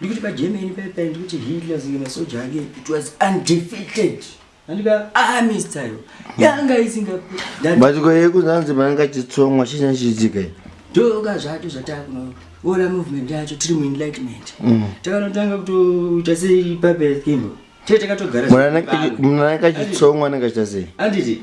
ndikuti pagermany paipa paye ndikuti hitler zinge masoja ake it was undefeated andika army style yanga isingabatiko yekunzanzi maanga achitsongwa chii chachiitika i ndoka zvato zvatakuno ora movement yacho tiri muenlightenment mm. takanotanga kutoita sei pape kimbo tee takatogara munana akachitsongwa anenge achita sei anditi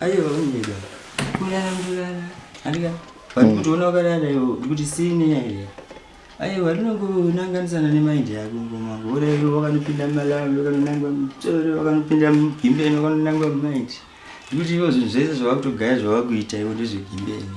Ayo unyida. Kulala kulala. Andika. Vanhu kuti ona ukarara yo kuti sine yaye. Ayo varinongonanganisana nemind yako ngoma. Ora yo wakanopinda malawi wakanonangwa mutoro wakanopinda mugimbeni wakanonangwa mind. Kuti yo zvinhu zvese zvawakutogaya zvawakuita iwe ndezvegimbeni.